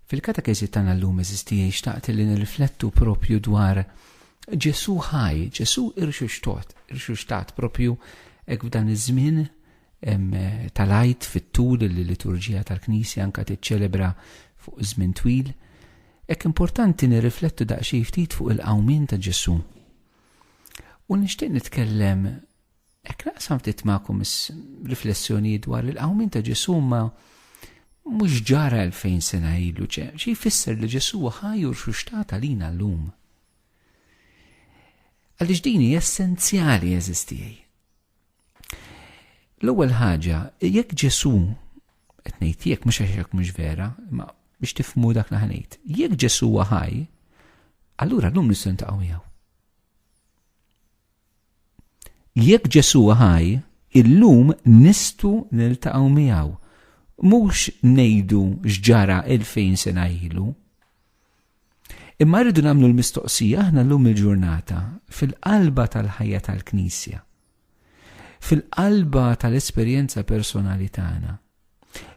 Fil-katekeżi tagħna llum eżistijaj xtaqt li nirriflettu propju dwar Ġesu ħaj, Ġesu irxuxtot, irxuxtat propju hekk f'dan iż-żmien tal-għajt fit-tul li liturġija tal-Knisja anka tiċċelebra fuq żmien twil. Hekk importanti nirriflettu daqsxejn ftit fuq il-qawmin ta' Ġesu. U nixtieq nitkellem Hekk naqsam ftit magħkom riflessjoni dwar il-qawmin ta' Ġesu ma mhux ġara 2000 sena ilu, xi jfisser li Ġesu ħaj u rxuxtat għalina llum. Għaliex din hi essenzjali eżistijaj. L-ewwel ħaġa, jekk Ġesu qed ngħid jekk mhux għax mhux vera, ma biex tifmu dak li ħanejt. Jekk Ġesu ħaj, allura llum nistgħu ntaqgħu miegħu. Jekk Ġesù ħaj, illum nistgħu niltaqgħu miegħu. Mhux ngħidu x'ġara 2000 sena ilu. Imma rridu nagħmlu l-mistoqsija aħna llum il-ġurnata fil-qalba tal-ħajja tal-Knisja. Fil-qalba tal-esperjenza personali tagħna.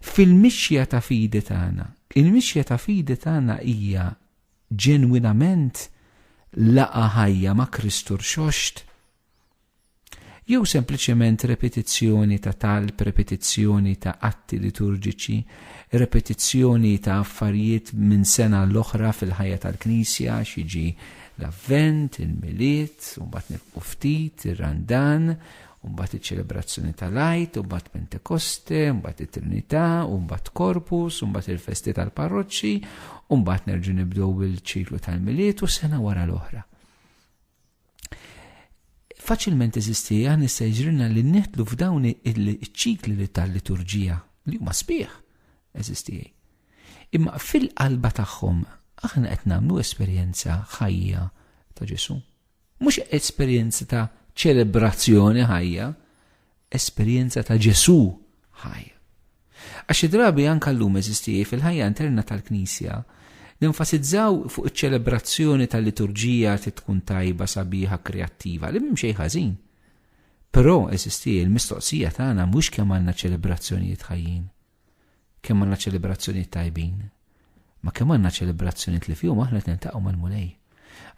Fil-mixja ta' fidi tagħna. Il-mixja ta' fidi tagħna hija ġenwinament laqgħa ħajja ma' Kristu rxoxt? Jew sempliċement repetizzjoni ta' talb, repetizzjoni ta' atti liturġiċi, repetizzjoni ta' affarijiet minn sena l-oħra fil-ħajja tal-Knisja, xiġi l-Avvent, il-Milied, u mbagħad nilqu ftit, ir-Randan, u mbagħad iċ-ċelebrazzjoni tal-Għid, u mbagħad Pentekoste, u mbagħad it-Trinità, u mbagħad Korpus, u mbagħad il-festi tal-parroċċi, u mbagħad nerġu nibdew bil-ċiklu tal-Miliet u sena wara l-oħra. Faċilment eżisti għan issa jġrina li neħtlu f'dawn il-ċikli li tal-liturġija li huma sbieħ eżisti. Imma fil-qalba tagħhom aħna qed nagħmlu esperjenza ħajja ta' Ġesu. Mhux esperjenza ta' ċelebrazzjoni ħajja, esperjenza ta' Ġesù ħaj. Għax xi drabi anke llum eżisti fil-ħajja interna tal-Knisja nenfasizzaw fuq iċ-ċelebrazzjoni tal-liturġija trid tkun tajba, sabiħa, kreattiva, li m'hemm xejn ħażin. Però eżisti l-mistoqsija tagħna mhux kemm għandna ċelebrazzjonijiet ħajjin. Kemm għandna ċelebrazzjonijiet tajbin, ma kemm għandna ċelebrazzjonijiet li fihom aħna qed niltaqgħu mal-Mulej.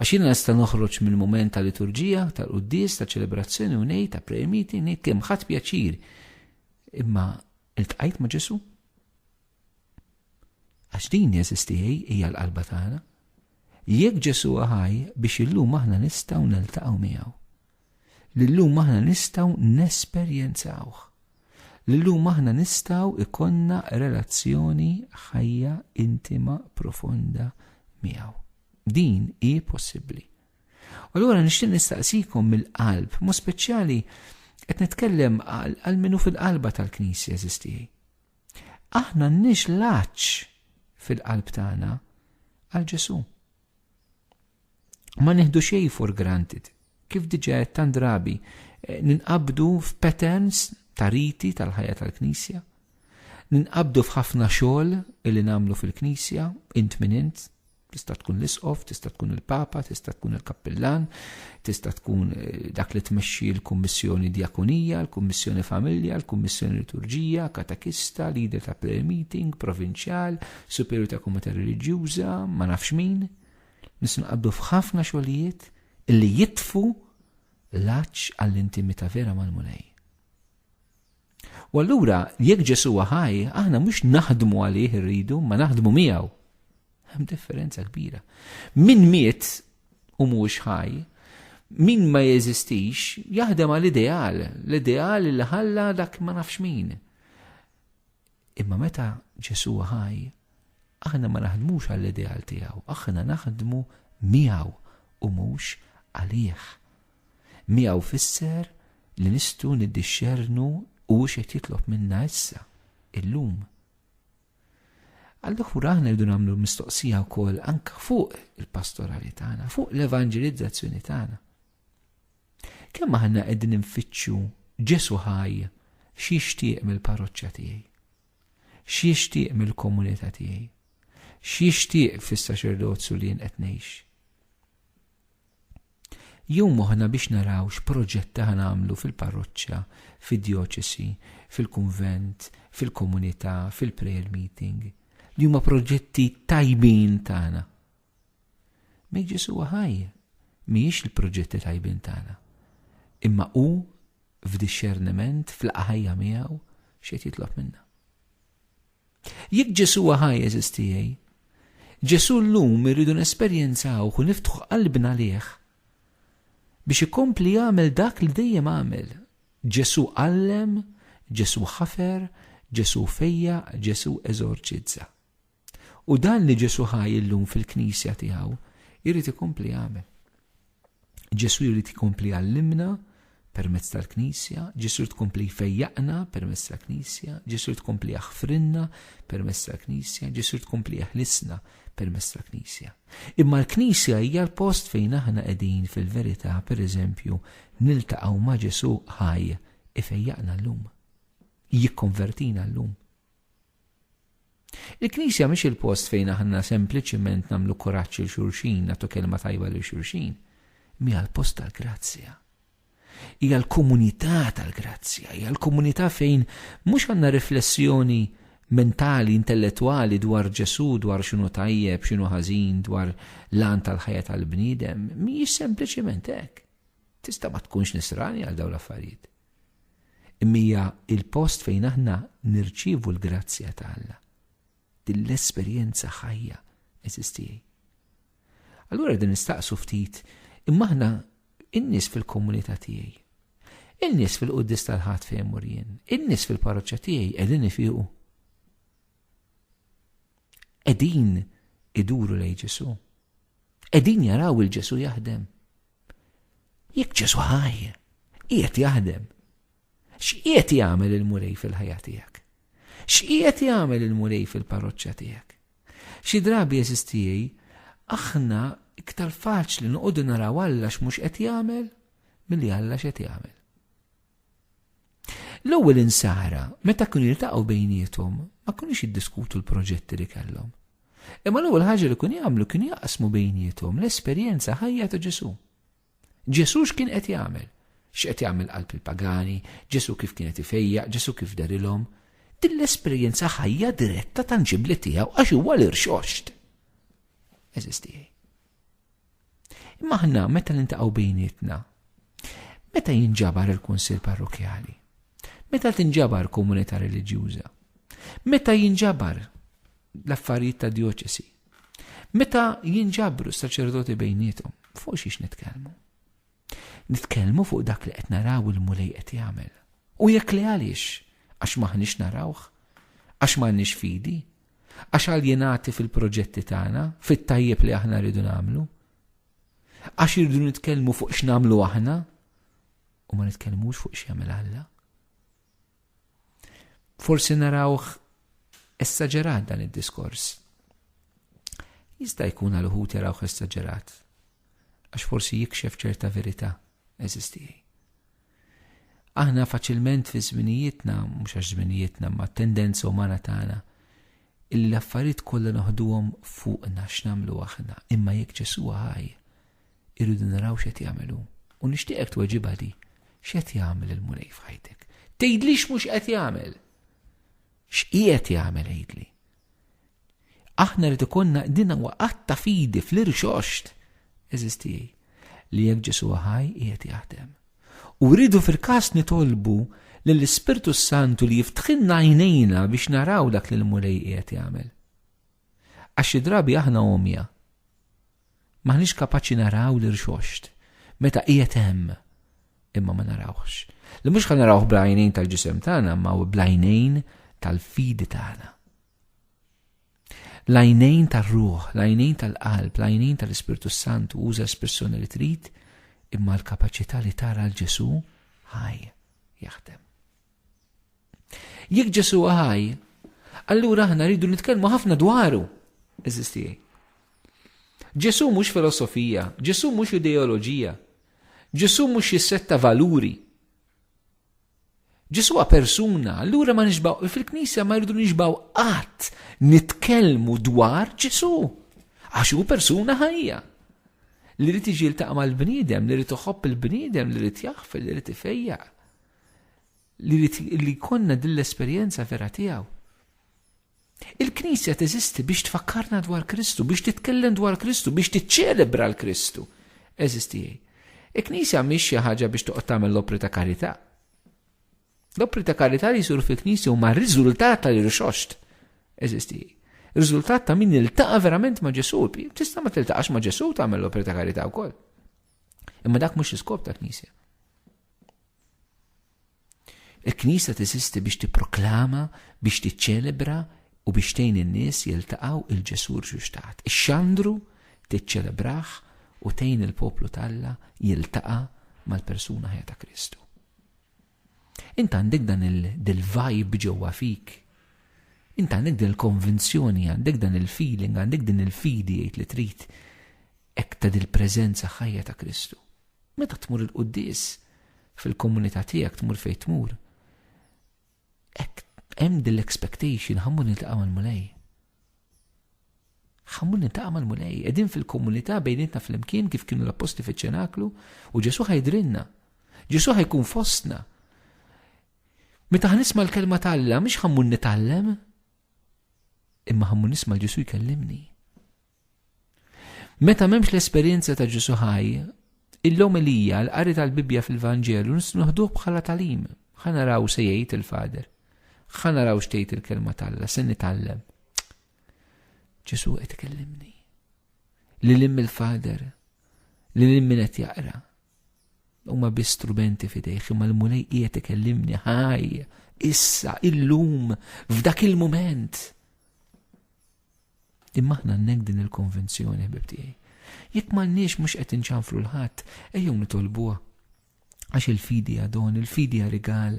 Għax jiena nista' noħroġ minn mument ta' liturġija, tal-quddies, ta' ċelebrazzjoni u ngħid ta' prayer meeting, ngħid kemm ħadd pjaċir. Imma iltqajt ma' Ġesu? Għax din jeżisti hija l-qalba tagħna. Jekk Ġesu ħaj biex illum aħna nistgħu niltaqgħu miegħu. li llum aħna nistgħu nesperjenzawh, li llum aħna nistgħu ikonna relazzjoni ħajja intima profonda miegħu. Din hi possibbli. U allura nixtieq nistaqsikom mill-qalb, mu speċjali qed nitkellem għal minu fil-qalba tal-Knisja eżistijaj. Aħna nix laċ fil-qalb tagħna għal Ġesu. Ma nieħdu xejn for granted. Kif diġà qed tant drabi eh, ninqabdu f'patterns ta' riti tal-ħajja tal-Knisja. Ninqabdu f'ħafna xogħol illi nagħmlu fil-Knisja, int minn int, tista' tkun l-isqof, tista' tkun il-papa, tista' tkun il-kappillan, tista' tkun eh, dak li tmexxi l-kummissjoni djakunija, l-kummissjoni familja, l-kummissjoni liturġija, katakista, leader ta' prayer meeting, provinċjal, superju ta' komunità reliġjuża, ma nafx min, nisnqabdu f'ħafna xogħlijiet illi jitfu l-aċ għall-intimità vera mal-mulej. U allura, jekk Ġesu ħaj, aħna mhux naħdmu għalih irridu, ma naħdmu miegħu. Hemm differenza kbira. Min miet u mhux ħaj, min ma jeżistix, jaħdem għal ideal, l-ideal li ħalla dak ma nafx min. Imma meta Ġesù hu ħaj, aħna ma naħdmux għall-ideal tiegħu, aħna naħdmu miegħu u mhux għalih. Miegħu fisser li nistgħu niddixxernu u x'qed jitlob minna issa, illum. Allura aħna rridu nagħmlu mistoqsija wkoll anke fuq il-pastorali tagħna, fuq l-evanġelizzazzjoni tagħna. Kemm aħna qegħdin infittxu Ġesu ħaj x'jixtieq mill-parroċċa tiegħi? X'jixtieq mill-komunità tiegħi? X'jixtieq fis-saċerdozju li jien qed ngħix? Jew moħħna biex naraw x'proġett ta' nagħmlu fil-parroċċa, fid-djoċesi, fil-kunvent, fil-komunità, fil-prayer meeting, li huma proġetti tajbin tagħna Min Ġesu huwa ħaj mhijiex il-proġetti tajbin tagħna, imma hu f'dixxerniment fl-laqa ħajja miegħu x'qed jitlob minna. Jekk Ġesu huwa ħaj eżistijej, Ġesu llum irridu nesperjenzaw u niftħu qalbna liħ biex ikompli jagħmel dak li dejjem għamel. Ġesu għallem, Ġesu ħafer, Ġesu fejja, Ġesu eżorċizza. U dan li Ġesù ħaj illum fil-Knisja tiegħu jrid ikompli jagħmel. Ġesù jrid ikompli jgħallimna permezz tal-Knisja, Ġesù jrid ikompli jfejjaqna permezz tal-Knisja, Ġesù jrid ikompli jaħfrinna permezz tal-Knisja, Ġesù jrid ikompli jeħlisna permezz tal-Knisja. Imma l-Knisja hija l-post fejn aħna qegħdin fil-verità, pereżempju, niltaqgħu ma' Ġesù ħaj ifejjaqna llum. Jikkonvertina llum. Il-Knisja mhix il-post fejn aħna sempliċiment nagħmlu kuraġġ lil xulxin, nagħtu kelma tajba lil xulxin, imma hija l-post tal-grazzja. Hija l-komunità tal-grazzja, hija l-komunità fejn mhux għandna riflessjoni mentali, intellettwali dwar Ġesu, dwar x'inhu tajjeb, x'inhu ħażin, dwar l-għan tal-ħajja tal-bniedem, mhijiex sempliċiment hekk. Tista' ma tkunx nisrani għal dawn l-affarijiet. Imma hija l-post fejn aħna nirċievu l-grazzja ta' Alla. Din l-esperjenza ħajja, għeżież tiegħi. Allura din nistaqsu ftit, imma aħna in-nies fil-komunità tiegħi. In-nies fil-quddis tal-ħadd fejn mur jien, in-nies fil-parroċċa tiegħi qegħdin ifiqu. Qegħdin iduru lejn Ġesu. Qegħdin jaraw il-Ġesu jaħdem. Jekk Ġesu ħaj, qiegħed jaħdem. X'qiegħed jagħmel il-Mulej fil-ħajja tiegħek? X'qiegħed jagħmel il-Mulej fil-parroċċa tiegħek? Xi drabi jeżistijej, aħna iktar faċli noqogħdu naraw Alla x'mhux qed jagħmel milli Alla x'qed jagħmel. L-ewwel insara, meta kienu jiltaqgħu bejniethom, ma kinux jiddiskutu l-proġetti li kellhom. Imma l-ewwel ħaġa li kienu jagħmlu kienu jaqsmu bejniethom l-esperjenza ħajja ta' Ġesù. Ġesù x'kien qed jagħmel? X'qed jagħmel qalb il-pagani? Ġesù kif kien qed ifejjaq? Ġesù kif darilhom? Din l-esperjenza ħajja diretta tanġibbli tiegħu għax huwa l-irxoxt. Eżisti. Imma aħna meta nintaqgħu bejnietna, meta jinġabar il-Kunsill Parrokjali, meta tinġabar komunità reliġjuża, meta jinġabar l-affarijiet ta' dioċesi, meta jinġabru s-saċerdoti bejnietom, fuq xiex nitkellmu. Nitkellmu fuq dak li qed naraw il-mulej qed jagħmel. U jekk li għaliex, għax maħniex narawh, għax m'għandniex fidi, Għax aljinati fil-proġetti tagħna, fit-tajjeb li aħna rridu nagħmlu? Għax irridu nitkellmu fuq x'namlu aħna u ma nitkellmux fuq x'jagħmel Alla? Forsi narawh essaġerat dan id-diskors. Jista' jkun għal uħut jarawh essaġerat għax forsi jikxef ċerta verità eżistijaj. Aħna faċilment fi żminijietna, mhux għax żminijietna ma tendenza umana tagħna, illi l-affarijiet kollha noħduhom fuqna x'namlu aħna, imma jekk Ġesu ħaj, irridu naraw x'qed jagħmlu. U nixtieqek tweġibha di, x'qed jagħmel il-Mulej f'ħajtek? Tgħidlix mhux qed jagħmel. X'qiegħed jagħmel għidli? Aħna rrid ikollna din huwa qatt ta' fidi fl-irxoxt, eżiz tiegħi, li jekk Ġesu ħaj qiegħed jaħdem. U rridu fil-każ nitolbu lill-Ispirtu s-Santu li jiftħilna għajnejna biex naraw dak li l-Mulej qiegħed jagħmel. Għax xi drabi aħna għomja. M'aħniex kapaċi naraw l-irxoxt meta qiegħed hemm, imma ma narawhx. Li mhux ħa narawh bl-għajnejn tal-ġisem tagħna imma bl-għajnejn tal-fidi tagħna. L-għajnejn tar-ruħ, l-għajnejn tal-qalb, l-għajnejn tal-Ispirtu Santu uża espressjoni li trid imma l-kapaċità li tara l-Ġesu ħaj jaħdem. Jekk Ġesu ħaj, allura aħna rridu nitkellmu ħafna dwaru. Eżisti. Ġesu mhux filosofija, Ġesu mhux ideoloġija, Ġesu mhux xi setta valuri. Ġesu persuna, allura ma nixbaw, fil-Knisja ma rridu nixbaw qatt nitkellmu dwar Ġesu. Għax hu persuna ħajja li rrid iġi l mal-bniedem, li rrid iħobb il-bniedem, li rrid jaħfel, li rrid ifejjaq. li li konna din l-esperjenza vera tiegħu. Il-Knisja teżisti biex tfakkarna dwar Kristu, biex titkellem dwar Kristu, biex tiċċelebra l-Kristu. Eżisti jgħid. Il-Knisja mhix xi ħaġa biex toqgħod tagħmel l-opri ta' karità. L-opri ta' karità li jsur fil-Knisja huma riżultat tal-irxoxt. Eżisti jgħid. Riżultat ta' min iltaqa' verament ma' Ġesu. Tista' ma tiltaqax ma' Ġesu tagħmel l-opri ta' karità wkoll. Imma dak mhux l-iskop ta' knisja. Il-knisja tesisti biex tipproklama, biex tiċċelebra u biex tgħin in-nies jiltaqgħu il-Ġesù rġuxtat. Ix-xandru tiċċelebraħ u tgħin il-poplu talla jiltaqa' mal-persuna ħajja ta' Kristu. Int għandek dan il-vibe ġewwa fik. Int għandek din il-konvinzjoni, għandek dan il-feeling, għandek din il-fidi jgħid li trid hekk ta' dil-preżenza ħajja ta' Kristu. Meta tmur il-quddis fil-komunità tiegħek tmur fejn tmur. Hekk hemm din l-expectation ħammur niltaqgħu mal-Mulej. Ħammur nintaqa' mal-Mulej, qegħdin fil-komunità bejnietna flimkien kif kienu l-apposti fiċ-ċenaklu u Ġesu ħajdrilna. Ġesu ħajkun fostna. Meta ħnisma' l-kelma talla, mhix ħammur nitgħallem, imma ħammur nisma' Ġesu jkellimni. Meta m'hemmx l-esperjenza ta' Ġesu ħaj, il-lomelija l-qari tal-Bibbja fil-Vanġelu nisnuħduh bħala talim. Ħa naraw se jgħid il-Fader. Ħa naraw x'tgħid il-kelma talla, se nitgħallem. Ġesu qed ikellimni. Li lim il-Fader, li lim min qed jaqra. Huma bi strumenti fidejh imma l-mulej qiegħed ikellimni ħaj, issa, illum, f'dak il-mument. Imma aħna għandnek din il-konvenzjoni, ħbib tiegħi. Jekk m'għandniex mhux qed inċanfru l-ħadd, ejjew nitolbuha. Għax il-fidi hija don, il-fidi hija rigal.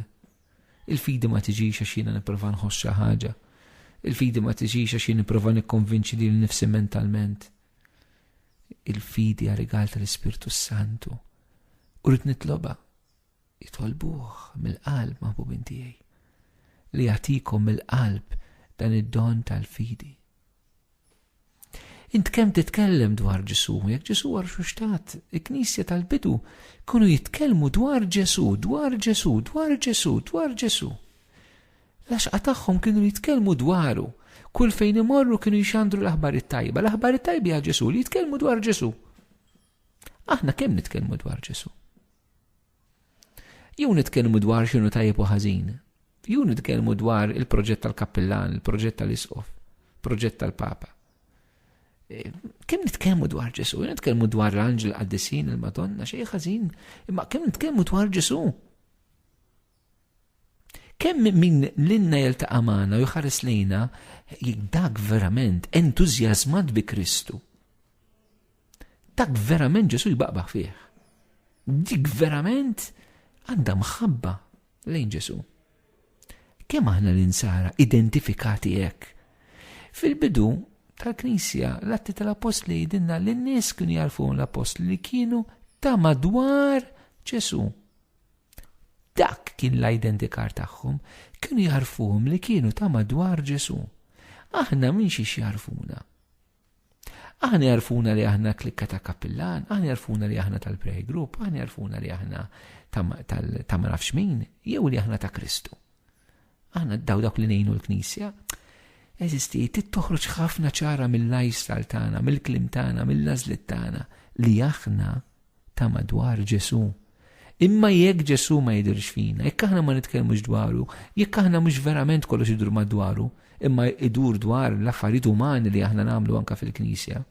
Il-fidi ma tiġix għax jiena nipprova nħoss xi ħaġa. Il-fidi ma tiġix għax jien nipprova nikkonvinċi lil nifsi mentalment. Il-fidi hija rigal tal-Ispirtu Santu. U rrid nitloba. Itolbuh mill-qalb, maħbubin tiegħi, li jagħtikom mill-qalb dan id-don tal-fidi. Int kemm titkellem dwar Ġesu, jekk Ġesu għar xuxtat, il-Knisja tal-bidu kunu jitkellmu dwar Ġesu, dwar Ġesu, dwar Ġesu, dwar Ġesu. Laxqa tagħhom kienu jitkellmu dwaru, kull fejn imorru kienu jxandru l-aħbar it-tajba, l-aħbar it-tajba għal Ġesu li jitkellmu dwar Ġesu. Aħna kemm nitkellmu dwar Ġesu? Jew nitkellmu dwar x'inhu tajjeb u ħażin. Jew nitkellmu dwar il-proġett tal-kappillan, il-proġett tal-isqof, proġett tal-papa. E, kemm nitkellmu dwar Ġesu, nitkellmu dwar l-anġel qaddisin il-Madonna, xejn ħażin, imma kemm nitkellmu dwar Ġesu. Kemm min lilna jiltaqa' magħna u jħares lejna dak verament entużjażmat bi Kristu. Dak verament Ġesu jbaqbaħ fih. Dik verament għandha mħabba lejn Ġesu. Kemm aħna l-insara identifikati hekk. Fil-bidu tal-Knisja l-atti tal-Apostli jidinna li n-nies kienu jarfu l-Apostli li kienu ta' madwar Ġesu. Dak kien l-identikar tagħhom, kienu jagħrfuhom li kienu ta' madwar Ġesù. Aħna minn xiex jagħrfuna? Aħna jagħrfuna li aħna klikka ta' kappillan, aħna jagħrfuna li aħna tal-prayer group, aħna jagħrfuna li aħna ta' ma nafx min, jew li aħna ta' Kristu. Aħna daw dak li ngħinu l-Knisja, eżisti, tittoħroġ ħafna ċara mill-lifestyle tagħna, mill-klim tagħna, mill-lażlit tagħna li aħna ta' madwar Ġesu. Imma jekk Ġesu ma jidirx fina, jekk aħna ma nitkellmux dwaru, jekk aħna mhux verament kollox idur madwaru, imma idur dwar l-affarijiet umani li aħna nagħmlu anka fil-Knisja.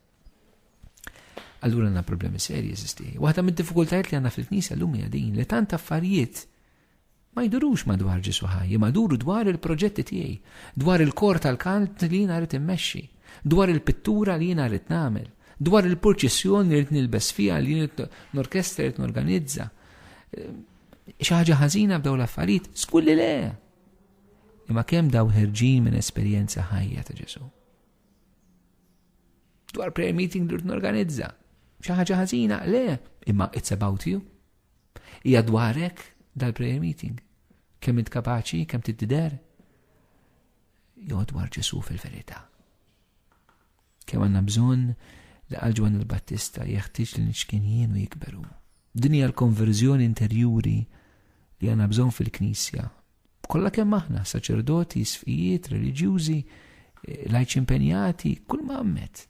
Allura għandna problemi serji eżisti. Waħda mid-diffikultajiet li għandna fil-Knisja llum hija din li tant affarijiet Ma jdurux madwar Ġesù ħaj, imma jduru dwar il-proġetti tiegħi, dwar il-kor tal-kant li jiena rrid immexxi, dwar il-pittura li jiena rrid nagħmel, dwar il-purċissjoni li rrid nilbes fiha li jien norkestra rrid norganizza. Xi ħaġa ħażina b'daw l-affarijiet, skulli le! Imma kemm daw ħerġin minn esperjenza ħajja ta' Ġesu. Dwar prayer meeting li rrid norganizza. Xi ħaġa ħażina, le, imma it's about you. Hija dwarek dal-prayer meeting. Kemm int kapaċi, kemm tiddider. Jo dwar Ġesu fil-verità. Kemm għandna bżonn li għal Ġwan il-Battista jeħtieġ li nixkien jien u jikberu. Din hija l-konverżjoni interjuri li għandna bżonn fil-Knisja Kollha kemm aħna, saċerdoti, sfijiet, reliġjużi, eh, lajċi impenjati, kull ma għammet.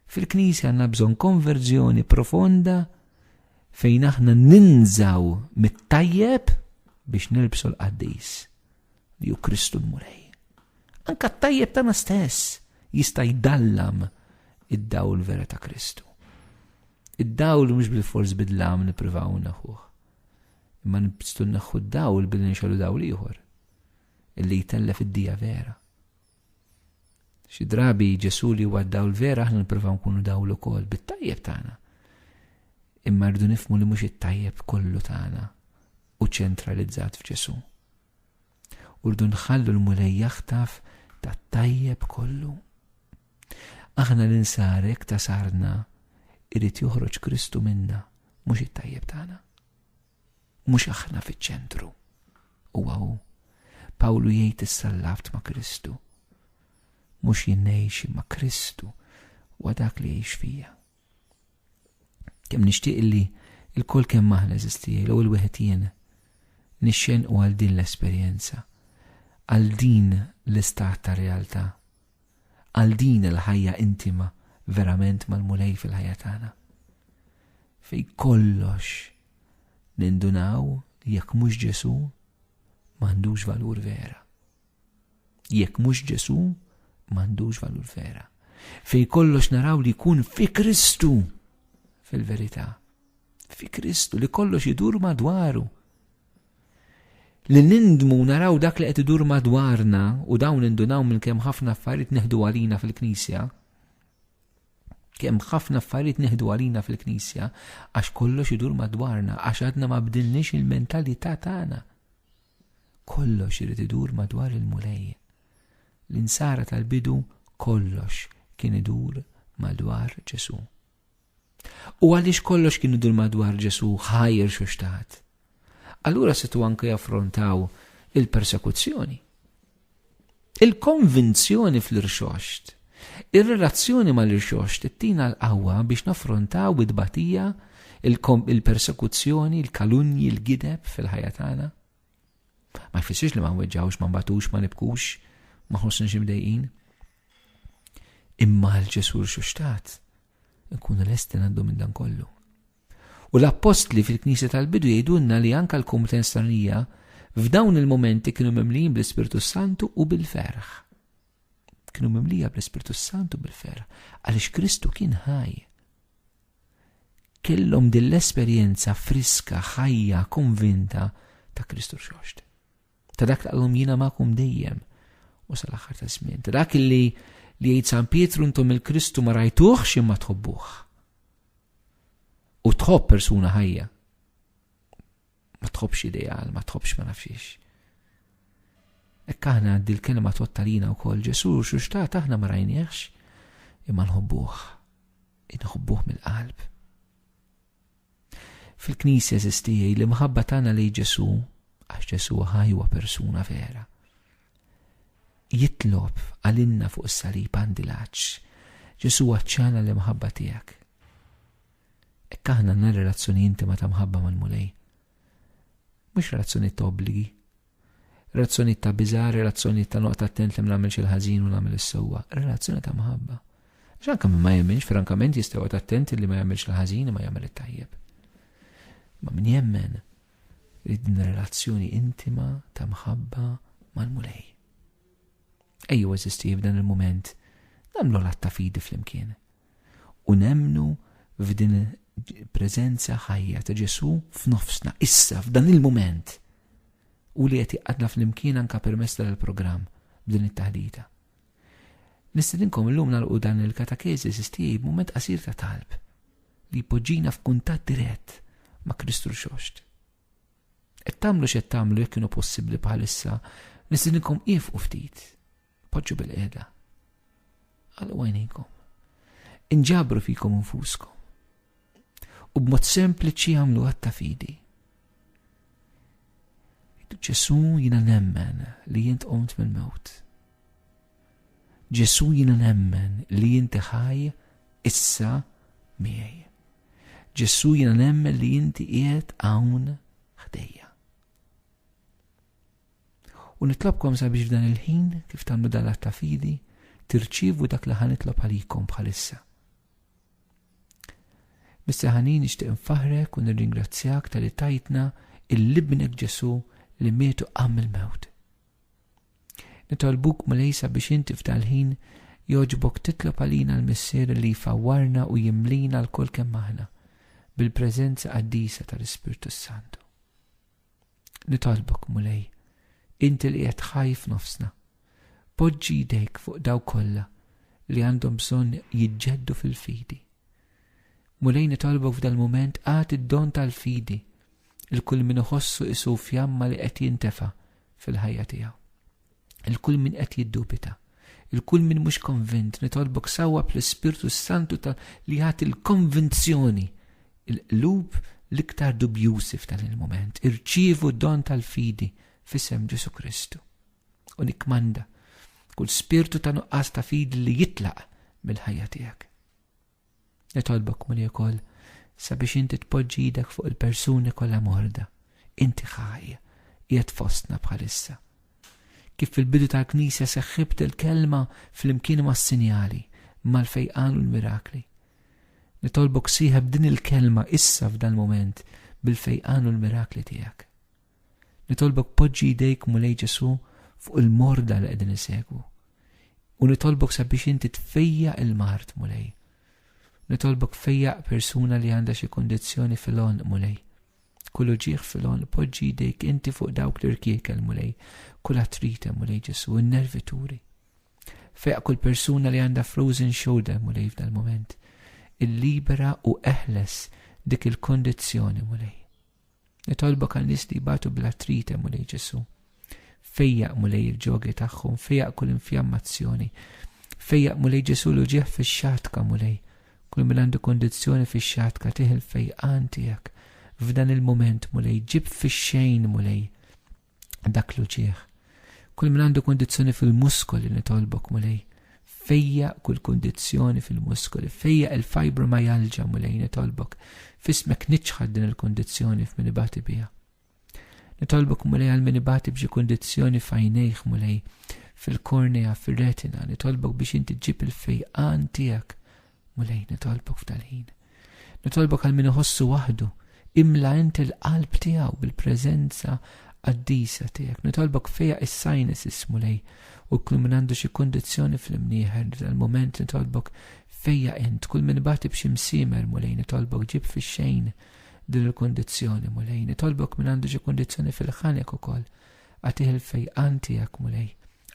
Fil-Knisja għandna bżonn konverżjoni profonda fejn aħna ninżaw mit-tajjeb biex nilbsu l-qaddis li ju Kristu l-Mulej. Anka t-tajjeb tagħna stess jista' jdallam id-dawl vera ta' Kristu. Id-dawl mhux bil-fors bidlam nippruvaw naħuh. Imma nibstu naħħu d-dawl billi nxollu dawl ieħor illi jtellef id-dija vera. Xi drabi Ġesu li huwa d-dawl vera aħna nippruvaw nkunu dawl ukoll bit-tajjeb tagħna. Imma rridu nifmu li mhux it-tajjeb kollu tagħna u ċentralizzat f'Ġesu. U rdu nħallu l-Mulej jaħtaf tat-tajjeb kollu. Aħna l-insar hekk ta' sarna irid joħroġ Kristu minna, mhux it-tajjeb tagħna. Mhux aħna fiċ-ċentru. U hu. Pawlu jgħid is-sallaft ma' Kristu. Mhux jinnejxi ma' Kristu wa dak li jgħix fija. Kemm nixtieq li il-kol kemm aħna eżistijaj, l il wieħed jien, nixxen u għal din l-esperjenza, għal din l-istat ta' realtà, għal din il-ħajja intima verament mal-mulej fil-ħajja tagħna. Fej kollox nindunaw jekk mhux Ġesu m'għandux valur vera. Jekk mhux Ġesu, m'għandux valur vera. Fej kollox naraw li jkun fi Kristu fil-verità. Fi Kristu li kollox idur madwaru. Li nindmu naraw dak li qed idur madwarna u dawn indunaw minn kemm ħafna affarijiet neħdu għalina fil-Knisja. Kemm ħafna affarijiet neħdu għalina fil-Knisja għax kollox idur madwarna għax għadna ma bdilniex il-mentalità tagħna. Kollox irid idur madwar il-Mulej. L-insara tal-bidu kollox kien idur madwar Ġesù. U għaliex kollox kien idur madwar Ġesù ħajr xuxtat. Allura situ anke jaffrontaw il-persekuzzjoni. Il-konvinzjoni fl-irxoxt. Ir-relazzjoni mal-irxoxt ttina l-qawwa biex naffrontaw it-tbatija, il-persekuzzjoni, il-kalunji, il-gideb fil-ħajja tagħna. Ma jfissirx li ma nweġġgħux, ma nbatux, ma nibkux, ma nħossniex imdejqin. Imma għal Ġesù rxoxtat, nkunu lesti ngħaddu minn dan kollu. U l-appostli fil-Knisja tal-bidu jgħidulna li anke l-kumitenz stranija f'dawn il-mumenti kienu mimlijin bl-Ispirtu Santu u bil-ferħ. Kienu mimlija bl-Ispirtu Santu bil-ferħ, għaliex Kristu kien ħaj. Kellhom din l-esperjenza friska, ħajja, konvinta ta' Kristu xoxt. Ta' dak taqlhom jiena magħkom dejjem u sal-aħħar ta' żmien. Ta' dak li li jgħid San Pietru intom il-Kristu ma rajtuħx imma tħobbuh. U tħobb persuna ħajja. Ma tħobbx ideal, ma tħobbx ma nafxiex. Ekk aħna għaddi l-kelma tottalina u kol Ġesu xuxtat aħna ma rajnieħx imma nħobbuħ. Inħobbuħ mill-qalb. Fil-Knisja, eżiż tiegħi, l-imħabba tagħna lejn Ġesù, għax Ġesù hu ħaj huwa persuna vera, jitlob għalinna fuq is-salib għandi l-għaġġ. Ġesù għaċċana l-imħabba tiegħek. Hekk aħna għandna relazzjoni intima ta' mħabba mal-Mulej. Mhux relazzjoni ta' obbligi, Relazzjonijiet ta' biża', relazzjonijiet ta' noqgħod attent li ma nagħmilx il-ħażin u nagħmel is-sewwa, relazzjoni ta' mħabba. Għax anke min ma jemminx frankament jista' joqgħod attent li ma jagħmilx il-ħażin imma jagħmel it-tajjeb. Ma min jemmen li din relazzjoni intima ta' mħabba mal-mulej. Ejju eżisti f'dan il-moment nagħmlu l-atta fidi flimkien. u nemmnu f'din preżenza ħajja ta' Ġesu f'nofsna, issa, f'dan il-mument. U li qed iqadna fl-imkien anka permess tal-programm b'din it-taħdita. Nistedinkom illum nagħlqu dan il-katakezi sistiji b'mument qasir ta' talb li jpoġġina f'kuntatt dirett ma' Kristu l-xoxt. Et tamlu xed tamlu jekk kienu possibbli bħalissa, nistedinkom ifqu ftit Poġġu bil-qiegħda. Għallu għajnejkom. Inġabru fikom infuskom. U b'mod sempliċi għamlu għatta fidi. Ġesu jina nemmen li jint qomt mill-mewt. Ġesu jina nemmen li jinti ħaj issa miegħi. Ġesu jina nemmen li jinti qiegħed hawn ħdejja. U nitlobkom sabiex f'dan il-ħin, kif tagħmlu dan l-att ta' fidi, tirċievu dak li ħa nitlob għalikom bħalissa. Mister Ħanin nixtieq nfaħrek u nirringrazzjak tal-li tajtna il-libnek Ġesu li mietu qam il-mewt. Nitolbuk mulejsa biex inti f'dal-ħin joġbok titlob għalina l-missier li jfawwarna u jimlina l-kol kemm aħna bil-preżenza qaddisa tal-Ispirtu Santu. Nitolbok, Mulej, inti li qed ħaj f'nofsna, poġġi jdejk fuq daw kollha li għandhom bżonn jiġġeddu fil-fidi. Mulej nitolbok f'dal-mument għad id-don tal-fidi il kull min iħossu isu fjamma li qed jintefa fil-ħajja tiegħu. Il-kull min qed jiddubita, il-kull min mhux konvint nitolbok sawwa bl-Ispirtu Santu ta' li jagħti l-konvinzjoni il-qlub l-iktar dubjużi f'dan il-moment. Irċievu don tal-fidi f'isem Ġesu Kristu. U nikmanda kull spirtu ta' nuqqas ta' fidi li jitlaq mill-ħajja tiegħek. Nitolbok muli wkoll sabiex inti tpoġġi idek fuq il-persuni kollha morda. Inti ħaj, qiegħed fostna bħalissa. Kif fil-bidu tal-Knisja seħħibt il-kelma flimkien mas-sinjali, mal-fejqan u l-mirakli. Nitolbok sieħeb din il-kelma issa f'dal-moment bil-fejqan u l-mirakli tiegħek. Nitolbok poġġi jdejk Mulej Ġesù fuq il-morda li qegħdin isegwu. U nitolbok sabiex inti tfejja il-mart Mulej. Nitolbok fejja persuna li għandha xi kondizzjoni fil-on Mulej. Kull uġieħ fil-on poġġi jdejk inti fuq dawk li rkiekel Mulej. Kull atrite Mulej Ġesù, in-nervituri. Fejja kull persuna li għandha frozen shoulder Mulej f'dal-moment. Il-libera u eħles dik il-kondizzjoni Mulej. Nitolbok għal nies li jbatu bl-artrite, Mulej Ġesu. Fejjaq Mulej il-ġogi tagħhom, fejjaq kull infjammazzjoni. Fejjaq Mulej Ġesu l uġieħ fix-xatka, Mulej. Kull min għandu kondizzjoni fix-xatka tih il-fejqan tiegħek. F'dan il-mument, Mulej, ġib fix-xejn, Mulej. dak l-uċieħ. Kull min għandu kondizzjoni fil-muskoli nitolbok mulej. Fejja kull kondizzjoni fil-muskoli, fejja il-fibromyalgia mulej nitolbok. Fismek niċħad din il-kondizzjoni f'min ibati bija. Nitolbok mulej għal min ibati b'xi kondizzjoni fajnejħ mulej fil-kornea, fil-retina, nitolbok biex inti ġib il-fejqan tijak Mulej, nitolbok f'dal-ħin. Nitolbok għal min iħossu waħdu, imla inti l-qalb tiegħu bil-preżenza qaddisa tiegħek. Nitolbok fejja is-sinuses mulej u kull min għandu xi kondizzjoni fl-imnieħer dal-moment nitolbok fejja int, kull min bati b'xi msimer mulej nitolbok ġib fix-xejn din il-kondizzjoni mulej, nitolbok min għandu xi kondizzjoni fil-ħanek ukoll għatih il-fejqan tiegħek mulej,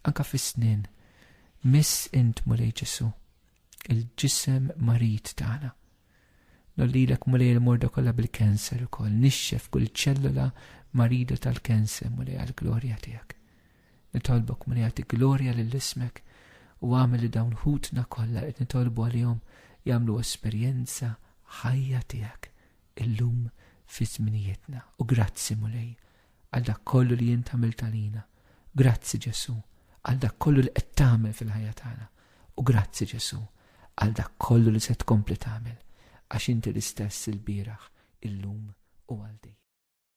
anka fis-snin. Miss int mulej Ġesu, il-ġisem marid tagħna. Nollilek mulej il-morda kollha bil-kanser ukoll, nixxef kull ċellola marida tal-kanser mulej għall-glorja tiegħek. Nitolbok mulej għati glorja lill-ismek u għamel li dawn ħutna kollha qed nitolbu għalihom jagħmlu esperjenza ħajja tiegħek illum fi żminijietna u grazzi mulej għal dak kollu li int għamilt għalina. Grazzi Ġesu għal dak kollu li qed tagħmel fil-ħajja tagħna. U grazzi Ġesu għal dak kollu li se tkompli tagħmel għax inti l-istess il-bieraħ, illum u għal dejjem.